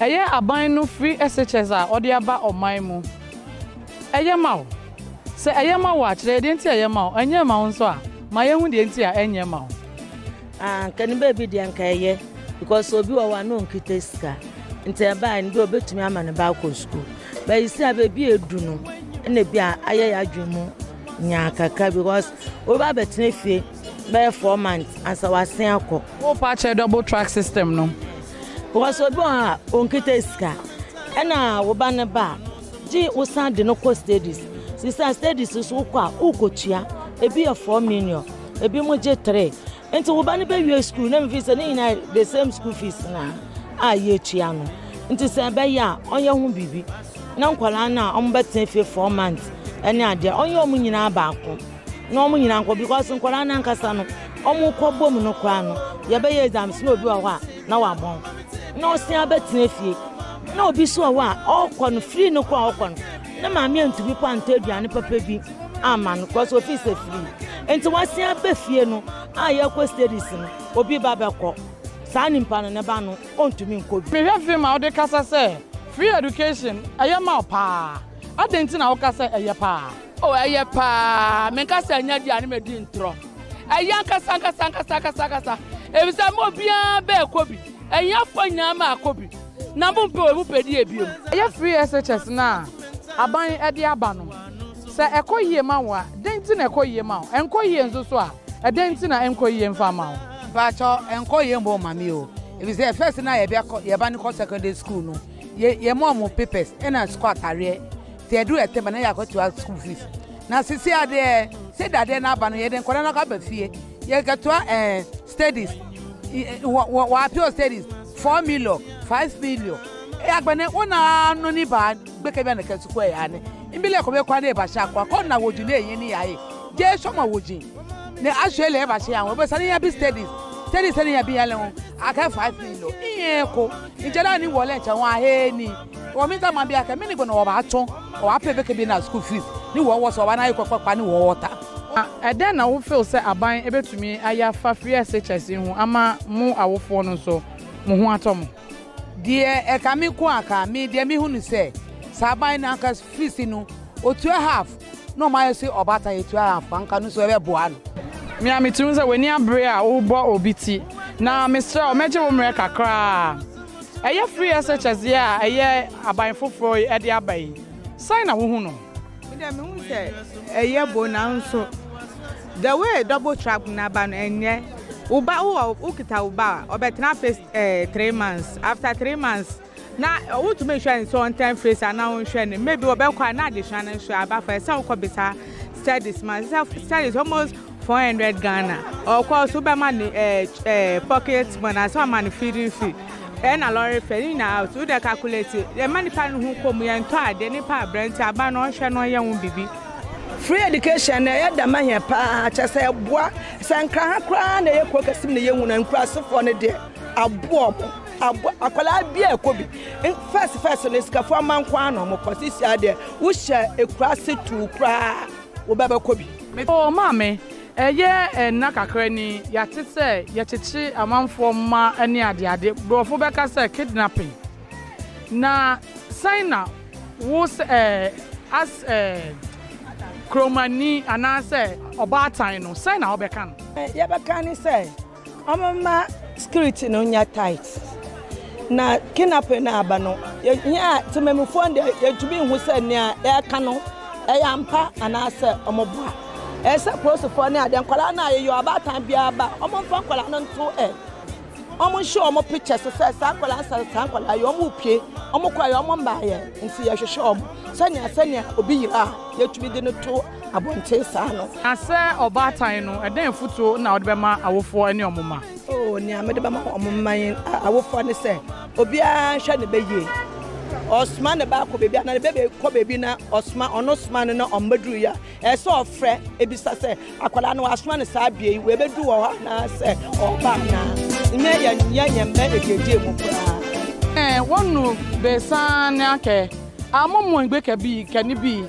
Ɛyɛ aban no free SHS a ɔde aba ɔman mu. Ɛyɛ ma wo? Sɛ ɛyɛ ma wo a, kyerɛ yɛ deɛ nti a ɛyɛ ma wo. Ɛnyɛ ma wo nso a, ma yɛnhu deɛ nti a ɛnyɛ ma wo. Ah nka ne baabi deɛ nka ɛyɛ because obi wɔ hɔ a na ɔnkita sika nti ɛbae no deɛ ɔbɛtumi ama ne ba akɔ sukuu bɛyi sɛ a baabi a ɛdu no na bi a ayɛ yɛ adwene mu nyaa kakra because obi abɛtena fie bɛyɛ four months ansa wasen akɔ. Wopa akyɛ double track system no. Because obi wɔ hɔ a onkita sika ɛna wo ba no ba a gye wosan de no kɔ studies sisa studies so wokɔ a wokotua ebi yɛ four million ebi mo gye three nti wo ba no bɛwie school na mefi sɛ ne nyinaa the same school fees na a yɛtua no nti sɛ ɛbɛyɛ a ɔnyɛ ho biribi na nkwadaa no a wɔbɛtena fie four months ɛne adeɛ ɔnyɛ wɔn nyinaa baako. na wɔn nyinaa nkɔ because nkwadaa no ankasa no wɔn kɔ bɔ mu no koraa no yɛbɛyɛ exams na obi wɔ hɔ a na wabɔn na ɔsan abɛtena fie na obi so wɔ hɔ a ɔkɔ no free no koraa ɔkɔ no na maame antumi kɔ antɔ aduane papa bi ama no because ofi sɛ free nti wasan abɛ fie no a yɛkɔ studies no obi ba bɛkɔ saa nipa no ne ba no ɔntumi nkɔ bi. mehwɛ film a wode kasa sɛ free education ɛyɛ ma paa adɛn nti na woka sɛ ɛyɛ paa. Oh, ɛyɛ paa. Menka sɛ ɛnyɛ deɛ a ne madi ntorɔ. Ɛyɛ ankasa ankasa ankasa ankasa ankasa. Efisɛ mo obiara bɛɛkɔ bi. Ahiafoɔ nyinaa maakɔ bi. Na mompɛ wei mopɛ deɛ ebiem. Ɛyɛ free SHS no a aban de aba no. Sɛ ɛkɔ yie ma wo a, dɛn nti na ɛkɔ yie ma wo? Ɛnkɔ yie nso so a, ɛdɛn nti na ɛnkɔ yie mfa mma wo? Mpakyɛ ɛnkɔ yie mma ɔma me o. Efisɛ first no a yɛde akɔ yɛn ba no kɔ secondary school no, yɛ yɛma wɔn papers ɛna sukuu ataadeɛ. sɛ ɛdu ɛtɛm na yɛakɔtoa school fees na sisi adeɛ sɛ dadeɛ no aba no yɛde nkɔda no akɔ aba fie yɛkɛtoa eh, studies wɔapeo studies four million five million agbɛne wo na no ni baa gbɛkɛ bi a na kɛ sukuu ɛyɛ ane mbi lɛ kɔbɛ kɔ ade ɛbahyɛ akɔ akɔ na wɔgyi ne ɛyɛ ne yɛayɛ gye sɔ ma wɔgyi ne ahyɛ lɛ ɛbahyɛ yɛn ho ɛbɛsa ne yɛ bi studies studies ne yɛ bi yɛn lɛ ho akɛ five million iye ko nkyɛn na ni wɔlɛ nkyɛn ho ahɛ ni Wɔ me dama bia kɛ, me ne bɛ na ɔba atɔ, ɔ apɛ bɛ kɛ bɛ na school fees, ne wɔ wɔ sɛ ɔba na ekɔ kɔ kpa ne wɔ ɔta. Na ɛdɛn na wo feel sɛ aban ebetumi ayɛ afa frshs yi ho ama mo awofoɔ no nso mo ho atɔ mo? Deɛ ɛka me nko a ka, me deɛ me hu no sɛ, sɛ aban no anka fees no ɔtua half na ɔmo ayɛ se ɔba ata yɛ tua half anka no nso ɛbɛ boa no. Me a me tiri ho sɛ w'ani abere a wo bɔ obi ti, na me serɛ wo mɛgye wo mmerɛ kakra a. Ɛyɛ free essay kyɛdzeɛ a ɛyɛ aban foforɔ yi de aba yi, sɛn na wohu no? Me deɛ mehu sɛ ɛyɛ bon nanso the way double track no aba no ɛnyɛ wo ba wowɔ wokita wo ba a ɔbɛtena face eh, three months after three months na wotumi nhwɛ no sɛ ɔntɛn face anaa ɔnhwɛ no maybe wɔbɛkɔ a na adesua no nso aba fa ɛsɛ wokɔ bisa studies ma sɛ studies almost Four hundred Ghana ɔkɔ so wobɛma no ɛɛ eh, ɛɛ eh, pocket money anaasɛ wama no feeding fee ɛna eh, lɔre fɛ ne nyinaa out wodɛ calculate yɛma nipa no ho kɔn mu yɛntɔ adeɛ nipa aberante aba no ɔnhwɛ no ɔnyɛ ho bibi. Free education na ɛyɛ dɛm ahia paa kyɛ sɛ ɛboa sɛ nkraha koraa na ɛyɛ kuro kɛse mu na yɛhu no nkurasefoɔ no deɛ aboa ɔmo aboa akwadaa bi a ɛkɔ bi fɛs fɛs no sikafoɔ amanko ano ɔmo kɔ sisi adeɛ wohyɛ ekuraase tuu koraa. wobɛbɛkɔ bi. Oh maame, ɛyɛ nna kakra ni yɛate sɛ yɛkyekye amanfoɔ mma ne adeade, borɔfo bɛka sɛ kidnapping, na sɛn na wo sɛ eh, as eh, kuromani anaasɛ ɔbaatan no, sɛn na wobɛka no? Deɛ yɛbɛka ne sɛ, Wɔma skirt no nyɛ tight na kinape no aba no yɛn a temamufoɔ deɛ yɛntumi nhu sɛ nea ɛka no ɛyɛ ampa anaasɛ wɔboa ɛyɛ sɛ polisifoɔ ne adeɛ nkwadaa no a yɛyɛ ɔbaatan biara ba wɔmfa nkwadaa no nto ɛ wɔnhyɛ wɔn pictures sɛ saa nkwadaa nsa saa nkwadaa yɛ wɔn repie wɔn kɔ ayɛ wɔn mmaayɛ nti yɛhwehwɛ wɔn sɛnea sɛnea obi yira a yɛtumi de no to abɔnten saa no. Na sɛ ɔbaatan no, ɛdɛn afotuo na wode bɛma awofoɔ ne wɔn mma? Oh, nea mede bɛma wɔn mma yɛn awofoɔ ne sɛ, obiara nhwɛ ne bɛ yie. Ɔsoma ne ba akɔ baabi a, na ne bɛ kɔ baabi na ɔsoma ɔno soma no na ɔmmɛduru yɛ a, ɛsɛ sɛ ɔfrɛ ebisa sɛ, akwadaa no wasoma no saa bea yi, wɔbɛduru wɔ hɔ anaasɛ ɔba anaa? Nyɛ yɛn nyɛ yɛn mma ɛgyegye mu koraa. Ɛɛ, wɔnu besan ne akɛ, amomo egbe kɛ bi, kɛ ne bi.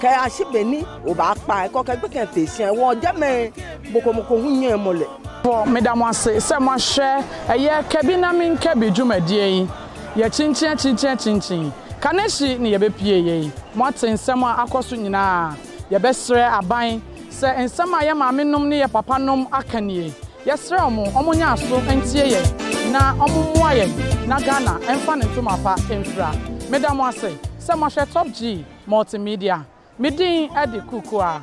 Kɛ a si be ni o ba kpa e kɔ kɛ gbe kɛn fe sian e wɔ jɛ mɛ e boko mo ko hun nyɛn mo le. Fo, Meda mo ase sɛ moahwɛ ɛyɛ Ka Bi Na Menka Bi dwumadie yi. Yɛakyinkyin akyinkyin akyinkyin. Kanehyi ne yɛbɛpue yei. Moate nsɛm a akɔ so nyinaa. Yɛbɛsrɛ aban sɛ nsɛm a yɛ maamenom ne yɛ papanom aka nie. Yɛsrɛ wɔn wɔn nyɛ aso ntie yɛn na wɔn mmoa yɛn na Ghana mfa ne ntoma pa mfira. Meda mo ase sɛ moahwɛ Top G. Multimedia, Me din de Kukuaa.